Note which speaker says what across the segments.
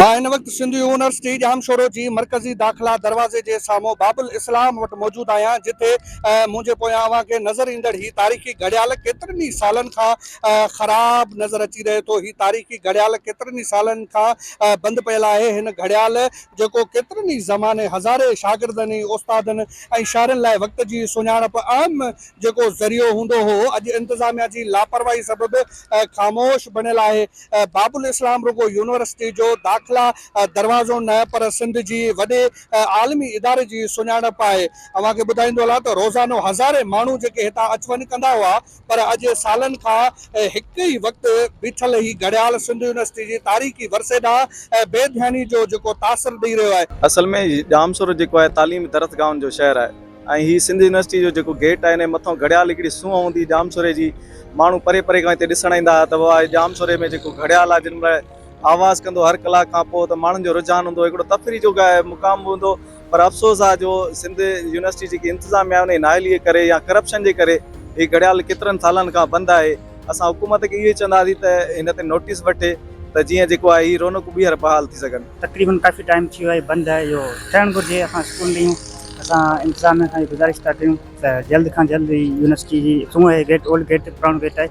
Speaker 1: مان هن وقت سنڌ يونيورسٽي ڄام شورو جي مرڪزي داخلا دروازي جي سامهون باب الاسلام وٽ موجود آهيان جتي منهنجي پويان اوهان کي نظر ايندڙ هي تاريخي گهڙيال ڪيترن ئي سالن کان خراب نظر اچي رهي ٿو هي تاريخي گهڙيال ڪيترن ئي سالن کان بند پيل آهي هن گهڙيال جيڪو ڪيترن ئي زماني هزارين شاگردن ۽ استادن ۽ شاعرن لاء وقت جي سڃاڻپ اهم جيڪو ذريعو هوندو هو اڄ انتظاميا جي لاپرواهي سبب خاموش بڻيل آهي باب الاسلام رڳو يونيورسٽي جو داخلا دروازو نه پر سنڌ جي وڏي عالمي اداري جي سڃاڻپ آهي اوهان کي ٻڌائيندو هلان ته روزانو هزارين ماڻهو جيڪي هتان اچ وڃ ڪندا هئا پر اڄ سالن کان هڪ ئي وقت بيٺل هي گهڙيال سنڌ يونيورسٽي جي تاريخي ورثي ڏانهن بي ڌياني جو جيڪو تاثر ڏئي رهيو آهي. اصل ۾ ڄامشورو
Speaker 2: جيڪو آهي تعليمي درسگاهن جو شهر آهي ۽ هي سنڌ يونيورسٽي جو جيڪو گيٽ آهي انهي مٿان گهڙيال هڪڙي سونهن هوندي هئي ڄامشوري جي ماڻهو پري پري کان هتي ڏسڻ ايندا هئا ته واهه هي ڄامشوري ۾ جيڪو گهڙيال آهي جن مهل آواز ڪندو هر ڪلاڪ کان پوء ته ماڻهن جو رجحان هوندو هو هڪڙو تفريح جو مقام به هوندو هو پر افسوس آ جو سنڌ يونيورسٽي جيڪي انتظاميه آ انهي نااهلي جي ڪري يا ڪرپشن جي ڪري هي گهڙيال ڪيترن سالن کان بند آهي اسان حڪومت کي اهو ئي چونداسين ته هن تي نوٽيس وٺي ته جيئن جيڪو آهي هي رونقون ٻيهر بحال ٿي سگهن. تقريبن ڪافي ٽائيم ٿي
Speaker 3: ويو آهي بند آهي اهو ٺهڻ گهرجي اسان اسڪول نيون اسان انتظاميه کان اهي گذارش ٿا ڪيون ته جلد کان جلد هي يونيورسٽي جي سون آهي گيٽ اولڊ گيٽ پراڻو گيٽ آهي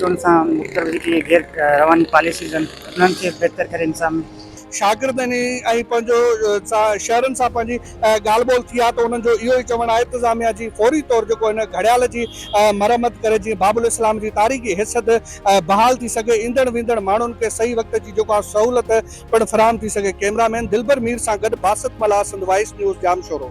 Speaker 3: چونڊ سان مختلف جيڪي غير رواني پاليسيز آهن انهن کي بهتر ڪري انسان. شاگردن
Speaker 1: ۽ پنهنجو شهرين سان پنهنجي ڳالهه ٻولهه ٿي آهي ته انهن جو اهو ئي چوڻ آهي اطزاميه جي فوري طور جيڪو هن گهڙيال جي مرمت ڪري جيئن باب الاسلام جي تاريخي حيثيت بحال ٿي سگهي ايندڙ ويندڙ ماڻهن کي صحيح وقت جي جيڪو آهي سهولت پڻ فراهم ٿي سگهي ڪئميرا مين دلبر مير سان گڏ باسط ملاح سنڌ وائس نيوز ڄامشورو.